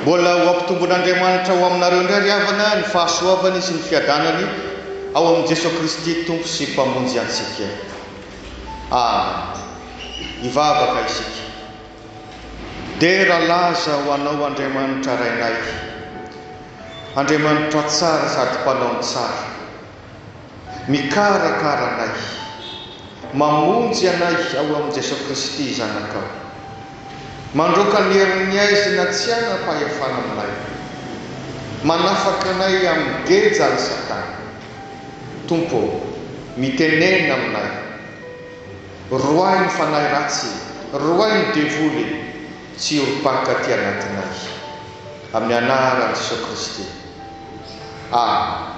Mbola ho ampitombon'Andriamanitra ho aminareo indray ry havana ny fahasoavany sy ny fiadanany ao amin'i Jesoa Kristy Tompo sy Mpamonjy antsika. Amen. Hivavaka isika. Dera laza ho Anao Andriamanitra Rainay, Andriamanitra tsara sady Mpanao ny tsara, mikarakara anay, mamonjy anay ao amin'i Jesoa Kristy Zanakao, mandroaka ny herin'ny aizina tsy hanam-pahefana aminay, manafaka anay amin'ny gejan'i Satana. Tompo ô, mitenena aminay. Roahy ny fanahy ratsy e! Roahy ny devoly e! Tsy hiorim-paka aty anatinay. Amin'ny anaran'i Jesoa Kristy. Amen.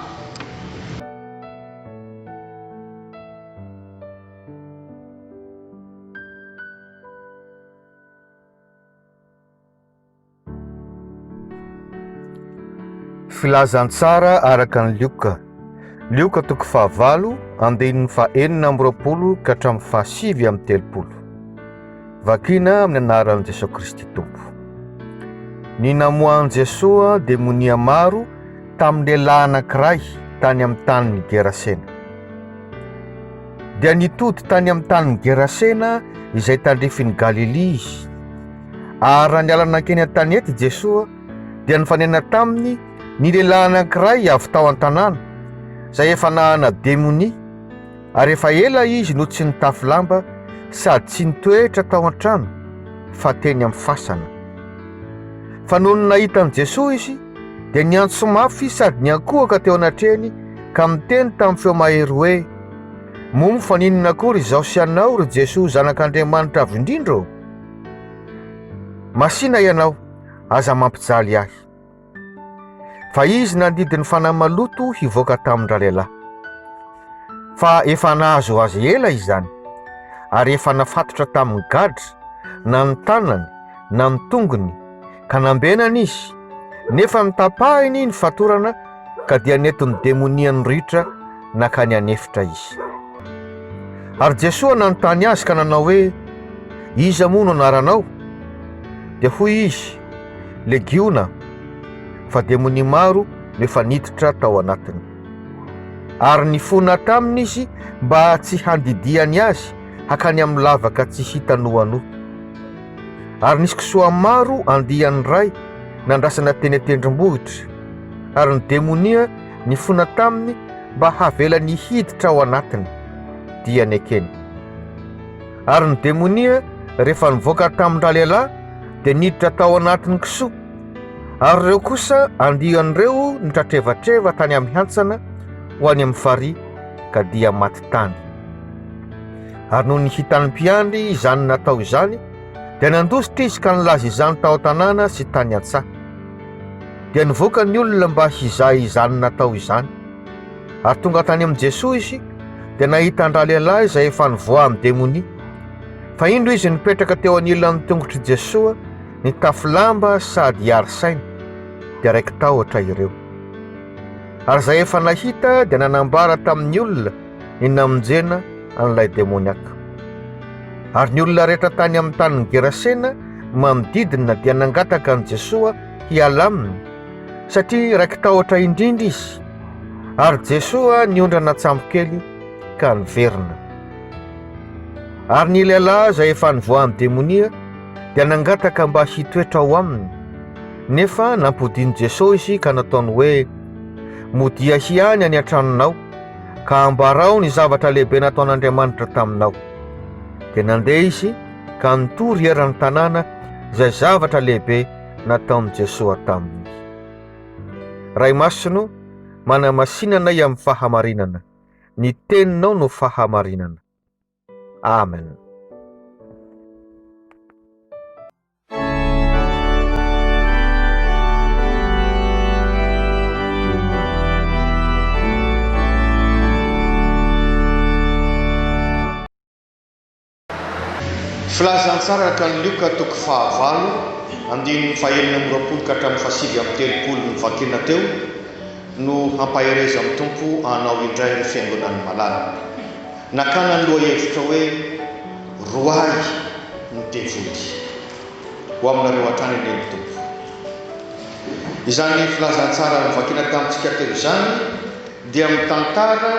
Filazantsara araka ny Lioka. Lioka toko fahavalo, andininy fahenina amby roapolo ka hatramin'ny fahasivy amby telopolo. Vakina amin'ny anaran'i Jesoa Kristy Tompo. Ny namoahan'i Jesoa demonia maro tamin'ny lehilahy anankiray tany amin'ny tanin'i Gerasena. Dia nitody tany amin'ny tanin'i Gerasena izay tandrifin'i Galilia izy. Ary raha niala nankeny an-tanety i Jesoa, dia nifanena taminy ny lehilahy anankiray avy tao an-tanàna, izay efa nahana demonia, ary efa ela izy no tsy nitafy lamba sady tsy nitoetra tao an-trano, fa teny amin'ny fasana. Fa nony nahita an'i Jesoa izy, dia niantso mafy sady niankohoka teo anatrehany ka miteny tamin'ny feo mahery hoe, Moa fa n'inona akory izaho sy ianao, ry Jesoa Zanak'Andriamanitra Avo Indrindra ô? Masina ianao, aza mampijaly ahy. Fa izy nandidy ny fanahy maloto hivoaka tamin-dralehilahy. Fa efa nahazo azy ela izany, ary efa nafatotra tamin'ny gadra, na ny tanany, na ny tongony, ka nambenany izy, nefa notapahiny ny fatorana ka dia nentin'ny demonia niritra nankany an'efitra izy. Ary Jesoa nanontany azy ka nanao hoe, Iza moa no anaranao? Dia hoy izy, Legiona, fa demonia maro no efa niditra tao anatiny. Ary nifona taminy izy mba tsy handidiany azy hakany amin'ny lavaka tsy hita noanoa. Ary nisy kisoa maro andiany iray nandrasana teny an-tendrombohitra, ary ny demonia nifona taminy mba havelany hiditra ao anatiny, dia nekeny. Ary ny demonia, rehefa nivoaka tamin-dralehilahy, dia niditra tao anatin'ny kisoa, ary ireo kosa andiany ireo nitratrevatreva tany amin'ny hantsana ho any amin'ny farihy, ka dia maty tany. ary noho ny hitan'ny mpiandry izany natao izany, dia nandositra izy ka nilaza izany tao an-tanàna sy tany an-tsaha. Dia nivoaka ny olona mba hizaha izany natao izany. Ary tonga tany amin'i Jesoa izy, dia nahita an-dralehilahy izay efa nivoaha amin'ny demonia. Fa indro izy nipetraka teo anilan'ny tongotr'i Jesoa, nitafy lamba sady hiaro saina, dia raiki-tahotra ireo. Ary izay efa nahita dia nanambara tamin'ny olona, ny namonjena an'ilay demoniaka. Ary ny olona rehetra tany amin'ny tanin'i Gerasena manodidina dia nangataka an'i Jesoa hiala aminy satria raiki-tahotra indrindra izy, ary Jesoa niondrana an-tsambokely ka niverina. Ary ny lehilahy izay efa nivoahan'ny demonia dia nangataka mba hitoetra ao aminy, nefa nampodian'i Jesoa izy ka nataony hoe, Modia hiany any an-tranonao, ka ambarao ny zavatra lehibe nataon'Andriamanitra taminao. Dia nandeha izy ka nitory eran'ny tanàna izay zavatra lehibe nataon'i Jesoa taminy. Ray Masino, manamasinanay amin'ny fahamarinana. Ny teninao no fahamarinana. Amen. Filazantsara araka ny Lioka toko fahavalo andininy fahenina amby roapolo ka hatramin'ny fahasivy amby telopolo novakiana teo no hampaherezan'ny Tompo anao indray ry fiangonan'ny malala. Nakana ny lohahevitra hoe Roahy ny devoly ho aminareo hatrany anie ny Tompo. Izany filazantsara novakina tamintsika teo izany dia mitantara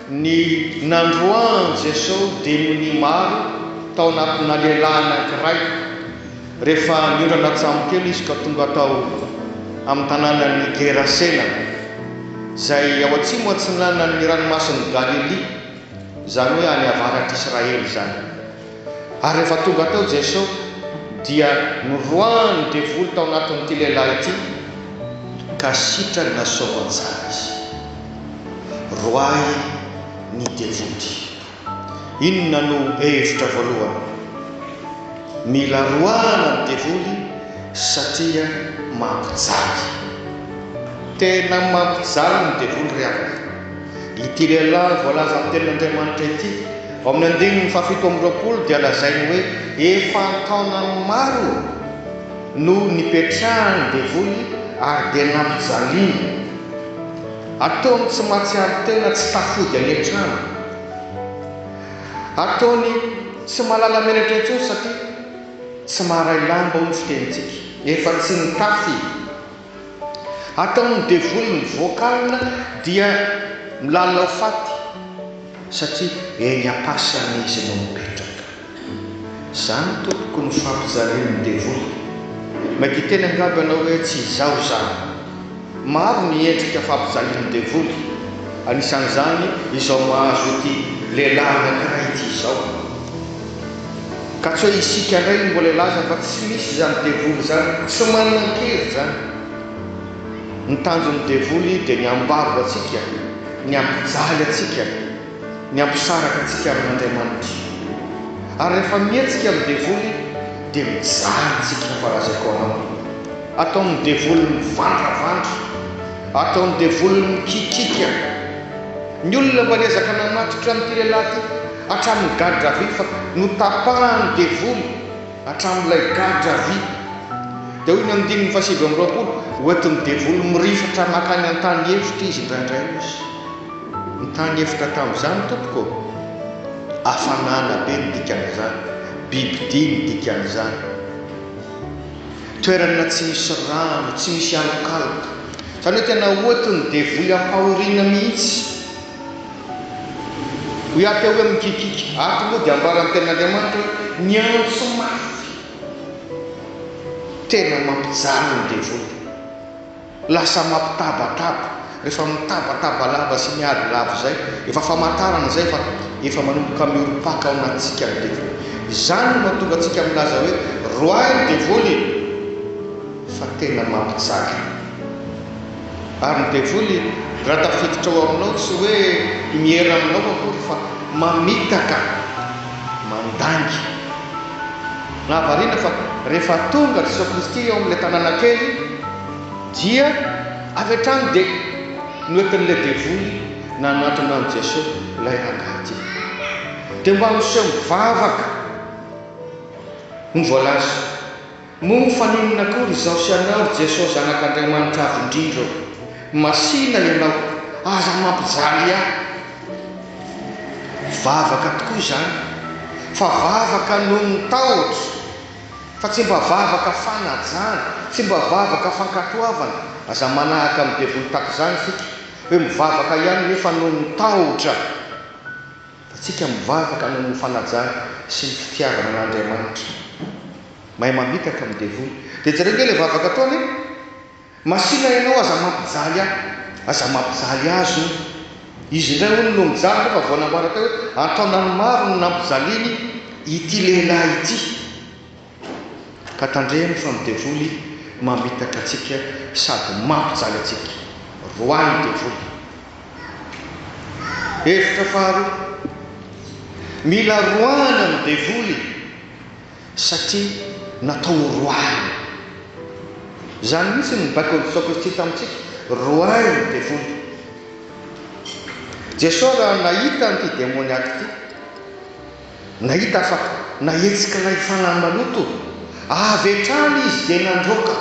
ny nandroahan'i Jesosy demonia maro tao anatinà lehilahy anankiray. Rehefa niondrana an-tsambo kely izy ka tonga tao amin'ny tanànan'i Gerasena, izay ao atsimo atsinanan'ny Ranomasin'i Galilia, izany hoe any avaratr'Israely izany. Ary rehefa tonga tao Jesosy, dia noroahan'ny devoly tao anatin'ity lehilahy ity, ka sitrany nasaovany tsara izy. Roahy ny devoly. Inona no hevitra voalohany mila roahana ny devoly satria mampijaly. Tena mampijaly ny devoly ry havana. Ity lehilahy voalazan'ny tenin'Andriamanitra ity ao amin'ny andininy fahafito amby roapolo dia lazainy hoe efa an-taonany maro no nipetrahan'ny devoly ary dia nampijaliany. Ataony tsy mahatsiaro tena tsy tafody any an-trano. Ataony tsy mahalala menatra intsony satria tsy maharay lamba hoy ny fitenintsika, efa tsy nitafy i. Ataon'ny devoly ny vocal dia milalao faty satria eny am-pasany izy no mipetraka. Zany tompoko no fampijalian'ny devoly. Mety hiteny angamba ianao hoe tsy izaho izany. Maro ny endrika fampijalian'ny devoly, anisan'izany izao mahazo ity lehilahy anankiray ity izao. Ka tsy hoe isika indray no mbola hilaza fa tsy misy izany devoly izany, tsy manan-kery izany. Ny tanjon'ny devoly dia ny hambabo antsika, ny hampijaly antsika. ny hampisaraka antsika amin'Andriamanitra. Ary rehefa mihetsika ny devoly dia mijaly ny tsikin'ny farazaikoanao. Ataon'ny devoly mivandravandra. Ataon'ny devoly mikikika. Ny olona mba niezaka namatotra an'ity lehilahy ity hatramin'ny gadra vy fa notapahan'ny devoly hatramin'ilay gadra vy. Dia hoy ny andininy fahasivy amby roapolo, hoentin'ny devoly mirifatra makany an-tany efitra izy indraindray, hoy izy. Nitany hevitra tamin'izany tompoko ô! Hafanana be ny dikan'izany, bibidia ny dikan'izany, toerana tsy misy rano, tsy misy alokaloka, izany hoe tena ohatrin'ny devoly ampahoriana mihitsy. Hoy aho teo hoe mikikiky, ato moa dia ambaran'ny tenin'Andriamanitra hoe miantso mafy. Tena mampijaly ny devoly. Lasa mampitabataba, rehefa mitabataba lava sy miady lava izay, efa famantarana izay fa efa manomboka miorim-paka ao anatintsika ny devoly. Izany no mahatonga antsika milaza hoe, Roahy ny devoly e! fa tena mampijaka. Ary ny devoly, raha tafiditra ao aminao, tsy hoe miera aminao akory fa mamitaka, mandainga. Nahavariana fa rehefa tonga Jesoa Kristy eo amin'ilay tanàna kely dia avy hatrany dia noentin'ilay devoly nanatona an'i Jesoa ilay rangahy ity. Dia mba miseho mivavaka no voalaza. Moa fa n'inona akory izao sy anao ry Jesoa Zanak'Andriamanitra Avo Indrindra ô? Masina ianao, aza mampijaly ahy. Vavaka tokoa izany fa vavaka noho ny tahotra fa tsy mba vavaka fanajana, tsy mba vavaka fankatoavana, aza manahaka ny devoly takizany isika hoe mivavaka ihany nefa noho ny tahotra, fa tsika mivavaka noho ny fanajana sy ny fitiavana an'Andriamanitra. Mahay mamitaka ny devoly. Dia jereo nge ilay vavaka ataony e! Masina ianao aza mampijaly ahy. Aza mampijaly azy hono. Izy indray hono no mijaly nefa vao nambarany teo hoe an-taonany maro no nampijaliany ity lehilahy ity. Ka tandremo fa ny devoly mamitaka antsika sady mampijaly antsika. Roahy ny devoly. Hevitra faharoa. Mila roahina ny devoly. Satria natao ho roahina. Izany mihitsy no nibaiko Jesoa Kristy tamintsika, roahin'ny devoly. Jesoa raha nahita an'ity demoniaky ity, nahita fa nahetsik'ilay fanahy maloto avy hatrany izy dia nandroaka.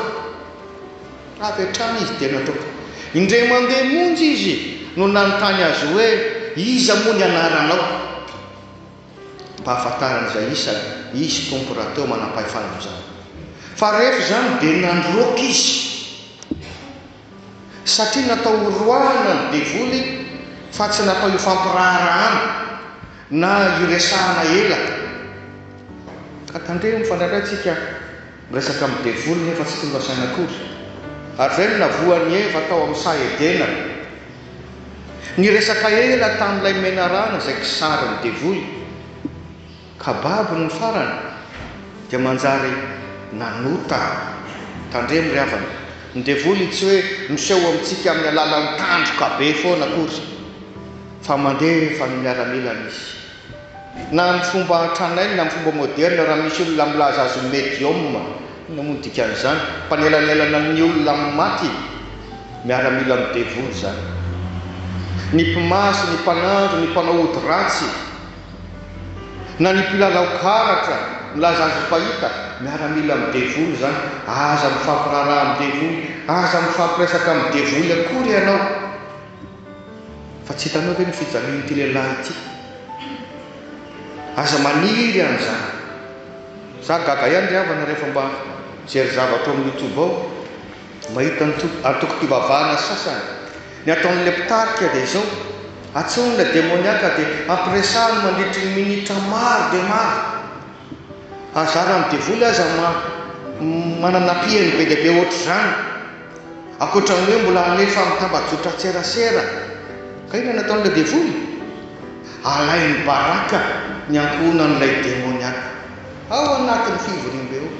Avy hatrany izy dia nandroaka. Indray mandeha monja izy no nanontany azy hoe, Iza moa ny anaranao? Mba hahafantarany izay isany, izy Tompo rahateo manampahefana amin'izany. Fa rehefa izany dia nandroaka izy, satria natao ho roahana ny devoly fa tsy natao hifampiraharahana na hiresahana ela. Ka tandremo fa indraindray tsika Miresaka amin'ny devoly nefa tsy tonga saina akory. Ary izay no navoan'i Eva tao amin'ny saha Edena. Niresaka ela tamin'ilay menarana izay kisarin'ny devoly. Ka babony ny farany dia manjary nanota. Tandremo ry havana, ny devoly tsy hoe miseho amintsika amin'ny alalan'ny tandroka be foana akory, fa mandefa ny miaramilany izy. Na amin'ny fomba tranainy na amin'ny fomba moderne, raha misy olona milaza azy ho medium, inona moa ny dikan'izany? Mpanelanelana ny olona amin'ny maty, miaramila amin'ny devoly izany. Ny mpimasy, ny mpanandro, ny mpanao ody ratsy, na ny mpilalao karatra, milaza azy ho mpahita, miaramila amin'ny devoly izany. Aza mifampiraharaha amin'ny devoly, aza mifampiraisak' amin'ny devoly akory ianao. Fa tsy hitanao ve ny fijalian'ity lehilahy ity? Aza maniry an'izany. Za gaga ihany ry havana rehefa mba mijery zavatra ao amin'ny youtube ao, mahita antokom-pivavahana sasany. Ny ataon'ilay mpitarika dia izao, atsahony ilay demoniaka dia ampiresahany mandritry ny minitra maro dia maro. Aza aran'ny devoly aza ma manana ampihany be dia be ohatr'izany, ankoatra ny hoe mbola hanome famitambajotran-tserasera. Ka inona no ataon'ilay devoly? Alainy baraka ny ankohonan'ilay demoniaka ao anatin'ny fivoriambe ao.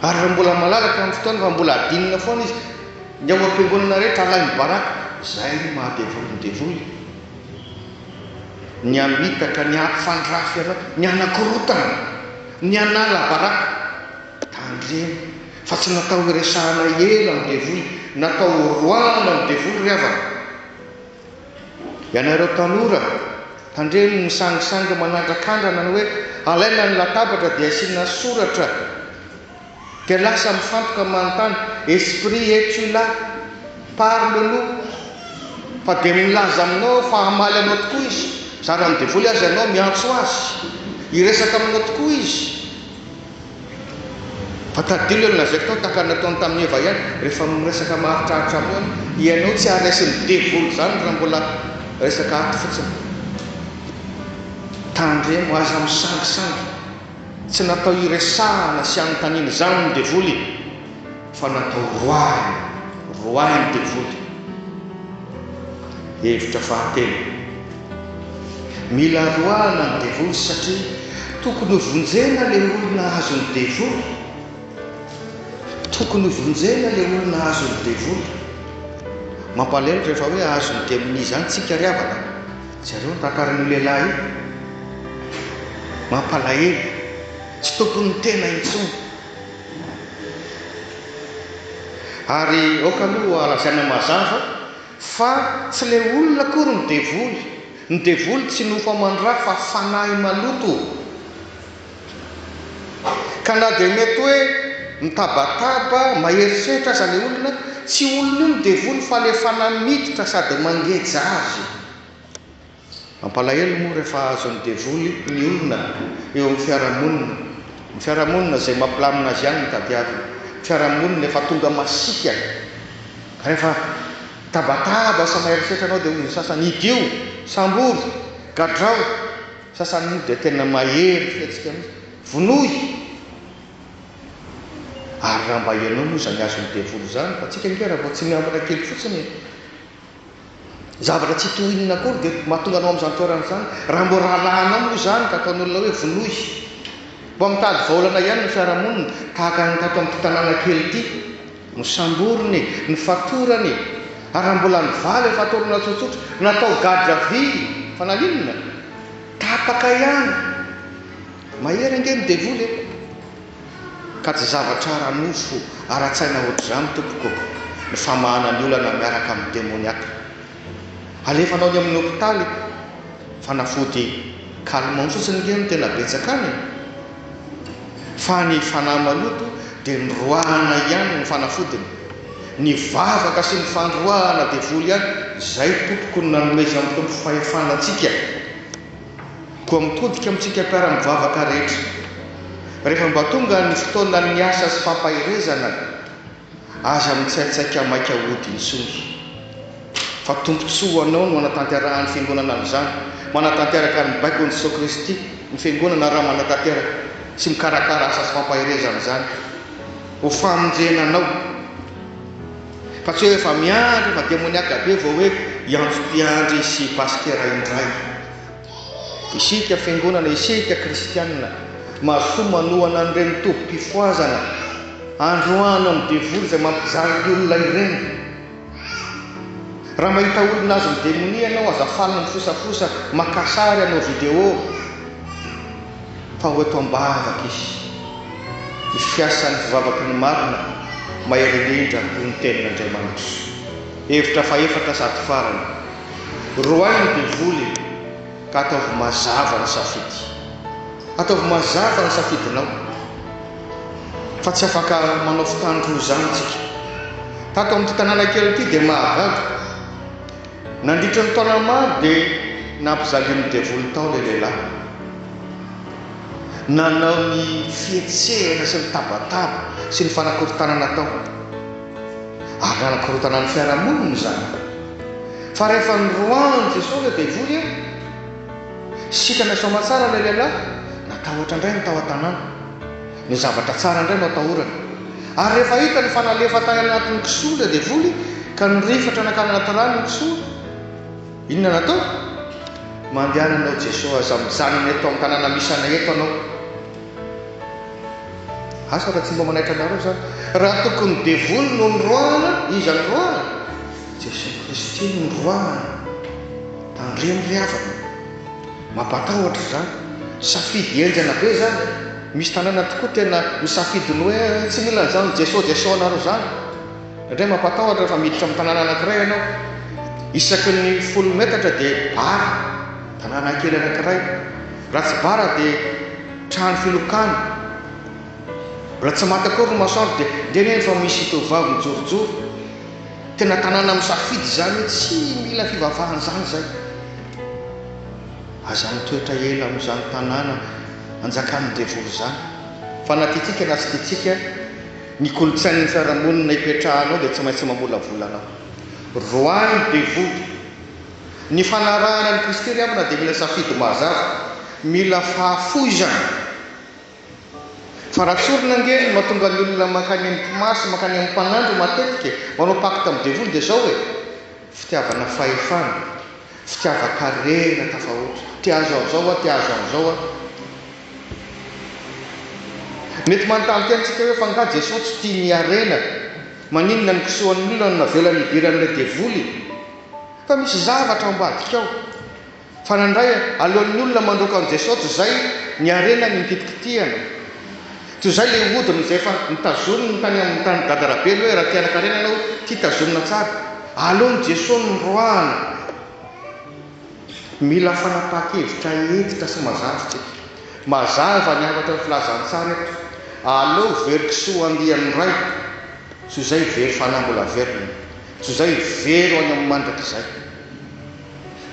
Ary raha mbola malalaka amin'ny fotoana fa mbola adinina foana izy, ny ao am-piangonana rehetra alainy baraka. Izay no maha-devoly ny devoly. ny hamitaka, ny hampifandrafy anao, ny hanakorontana, ny hanala baraka. Tandremo fa tsy natao hiresahana ela amin'ny devoly, natao horoahana ny devoly ry havana. Ianareo tanora, tandremo ny sangisangy manandrakandrana ny hoe alaina ny latabatra dia asiana soratra. Dia lasa mifantoka manontany, esprit es-tu là? Parle nous! Fa dia milaza aminao aho fa hamaly anao tokoa izy, zara ny devoly aza ianao miantso azy, hiresaka aminao tokoa izy. Fa tadidio ilay nolazaiko tao tahaka ny nataony tamin'i Eva ihany, rehefa miresaka maharitraritra aminao ianao, ianao tsy haraisin'ny devoly izany raha mbola resaka aty fotsiny. Tandremo, aza misangisangy. Tsy natao hiresahana sy hanontaniana izany ny devoly e! Fa natao roahina, roahin'ny devoly. Hevitra fahatelo, Mila roahina ny devoly satria tokony ho vonjena le olona azon'ny devoly. Tokony ho vonjena le olona azon'ny devoly. Mampalelo rehefa hoe azon'ny demonia izany tsika ry havana. Jereo ny tantaran'io lehilahy io, mampalahelo, tsy tompon'ny tena intsony. Ary aoka aloha lazaina mazava fa tsy ilay olona akory ny devoly, ny devoly tsy nofo aman-dra fa fanahy maloto. Ka na dia mety hoe mitabataba, mahery setra aza ilay olona, tsy olon'io ny devoly fa ilay fanahy miditra sady mangeja azy. Mampalahelo moa rehefa azon'ny devoly ny olona eo amin'ny fiarahamonina. Ny fiarahamonina izay mampilamina azy ihany no tadiaviny. Ny fiarahamonina efa tonga masiaka. Ka rehefa mitabataba sa mahery setra ianao dia hoy ny sasany, idio, sambory, gadrao. Sasany moa dia tena mahery fihetsika mihitsy. Vonoy! Ary raha mba ianao moa izany azon'ny devoly izany, fa tsika ange raha vao tsy miambina kely fotsiny e! Zavatra tsy toy inona akory dia mahatonga anao amin'izany toerana izany. Raha mbo rahalahinao moa izany ka ataon'olona hoe vonoy! Mba mitady vahaolana ihany ny fiarahamonina, tahaka ny tato amin'ity tanàna kely ity. Nosamboriny e! Nofatorany e! Ary raha mbola nivaly ny fatorana tsotsotra, natao garde à vue fa naninona? Tapaka ihany! Mahery ange ny devoly e! Ka tsy zavatra ara-nofo, ara-tsaina ohatr'izany tompoko ny famahana ny olana miaraka amin'ny demoniaka. Alefanao any amin'ny hopitaly fanafody calmant fotsiny nge no tena betsaka any e! Fa ny fanahy maloto dia ny roahana ihany no fanafodiny. Ny vavaka sy ny fandroahana devoly ihany izay tompoko no nanomezan'ny Tompo fahefana antsika. Koa mitodika amintsika mpiara-mivavaka rehetra. Rehefa mba tonga ny fotoanan'ny asa sy fampaherezana Aza mitsaitsaika maika hody intsony fa tombontsoa ho anao no hanatanterahan'ny Fiangonana an'izany. Manatanteraka ny baikon'i Jesoa Kristy ny Fiangonana raha manatanteraka sy mikarakara asa sy fampaherezana izany. Ho famonjena anao. Fa tsy hoe efa miandry efa demoniaka be vao hoe hiantso mpiandry sy pasitera indray. Isika Fiangonana, isika Kristianina, mahasoa manohana an'ireny tobim-pifohazana androany amin'ny devoly izay mampijaly ny olona ireny. Raha mahita olona azon'ny demonia ianao, aza faly mifosafosa, maka sary, hanao video, fa ho eto am-bavaka izy. Ny fiasan'ny fivavaky ny marina, mahery indrindra, noho ny Tenin'Andriamanitra. Hevitra fahefatra sady farany. Roahy ny devoly e! Ka ataovy mazava ny safidy. Ataovy mazava ny safidinao fa tsy afaka manao fitandroa izany isika. Tato amin'ity tanàna kely ity dia mahagaga. Nandritra ny taona maro dia nampijalian'ny devoly tao ilay lehilahy. Nanao ny fihetsehana sy ny tabataba sy ny fanakorontanana tao. ary nanakorontana ny fiarahamonina izany fa rehefa noroahan'i Jesoa ilay devoly eo, sitrana sy soamatsara ilay lehilahy, natahotra indray ny tao an-tanàna, ny zavatra tsara indray no atahorana, ary rehefa hitany fa nalefa tany anatin'ny kisoa ilay devoly ka nirifatra nankany anaty rano ny kisoa, inona no atao? Mandehana anao Jesoa, aza mijanona eto amin'ny tanàna misy anay eto anao. Asa raha tsy mba manaitra anareo za. Raha tokony devoly no noroahana, iza no roahana? Jesoa Kristy no noroahana. Tandremo ry havana. Mampatahotra izany. Safidy henjana be izany e. Misy tanàna tokoa tena misafidy ny hoe tsy mila an'izany Jesoa Jesoa anareo izany. Indray mampatahotra rehefa miditra amin'ny tanàna anankiray ianao. Isaky ny folo metatra dia bara, tanàna kely anankiray. Raha tsy bara dia trano filokana. Mbola tsy maty akory ny masoandro dia indray indray efa misy tovovavy mijorojoro. Tena tanàna misafidy izany hoe tsy mila fivavahana izany izay. Aza mitoetra ela amin'izany tanàna anjakan'ny devoly izany. Fanatintsika na tsy tiantsika Ny kolontsain'ny fiarahamonina ipetrahanao dia tsy maintsy mamolavola anao. Roahy devoly, ny fanarahana an'i Kristy ry havana dia mila safidy mazava, mila fahafoizana. Fa raha tsorina ange ny mahatonga ny olona mankany amin'ny mpimasy, mankany amin'ny mpanandro matetika e, manao pacte amin'ny devoly dia izao e, fitiavana fahefana. Fitiavan-karena tafahoatra. Te hahazo an'izao aho, te hahazo an'izao aho. Mety manontany tena isika hoe, fa angaha Jesoa tsy tia ny harena? Maninona no kisoan'ny olona no navelany hidiran'ilay devoly? Fa misy zavatra ao ambadika ao. Fanandray, alohan'ny olona mandroaka an'i Jesoa tsy izay ny harenany no kitikitihana. Toy izay ilay hodiny izay efa notazominy tany amin'ny tany Gada Rabely hoe, Raha tia hanan-karena ianao, tia tazomina tsara. Aleon'i Jesoa ny roahany. Mila fanapahan-kevitra hentitra sy mazava isika. Mazava ny hafatra ny filazantsara eto, Aleo very kisoa andian'ny Ray, toy izay very fanahy mbola velona, toy izay very ho any amin'ny mandrakizay.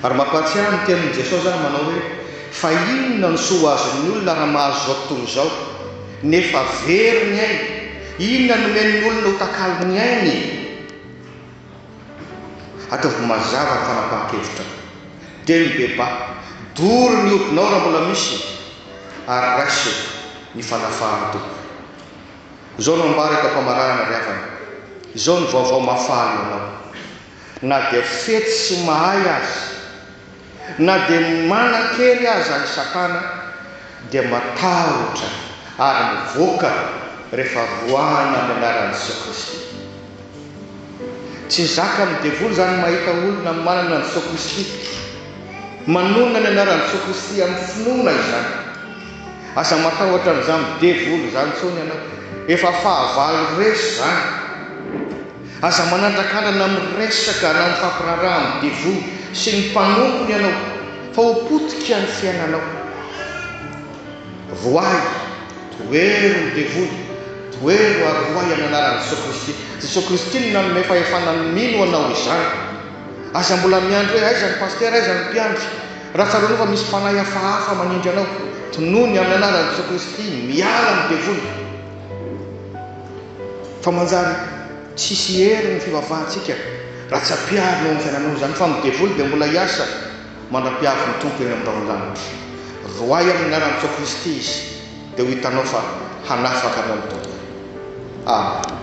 Ary mampahatsiahy ny tenin'i Jesosy izany manao hoe, Fa inona no soa ho azon'ny olona raha mahazo izao tontolo izao, nefa very ny ainy? Inona no omen'ny olona ho takalon'ny ainy? Ataovy mazava ny fanapahan-kevitrao. Dia mibebaha. Doro ny hodinao raha mbola misy, ary raiso ny fanafahan'ny Tompo. Izao no ambara eto am-pamarana ry havana, izao no vaovao mahafaly ho anao. Na dia fetsy sy mahay aza, na dia manan-kery aza i Satana, dia matahotra ary mivoaka rehefa roahina amin'ny anaran'i Jesoa Kristy. Tsy zakan'ny devoly izany mahita olona manana an'i Jesoa Kristy, manonona ny anaran'i Jesoa Kristy amin'ny finoana izany. Aza matahotra an'izany devoly izany intsony ianao, efa fahavalo resy izany. Aza manandrakandrana amin'ny resaka na mifampiraharaha amin'ny devoly sy ny mpanompony ianao fa ho potika ny fiainanao. Vohay, tohero ny devoly, tohero ary vohay amin'ny anaran'i Jesoa Kristy. Jesoa Kristy no nanome fahefana ny mino anao izany. Aza mbola miandry hoe aiza ny pasitera, aiza ny mpiandry. Raha tsaroanao fa misy fanahy hafahafa manindry anao, tonony amin'ny anaran'i Jesoa Kristy, miala ny devoly. Fa manjary tsisy hery ny fivavahantsika raha tsy ampiharina eo amin'ny fiainanao izany fa ny devoly dia mbola hiasa mandra-piavin'ny Tompo eny amin'ny rahon'ny lanitra. Roahy amin'ny anaran'i Jesoa Kristy izy dia ho hitanao fa hanafaka anao ny Tompo. Amen.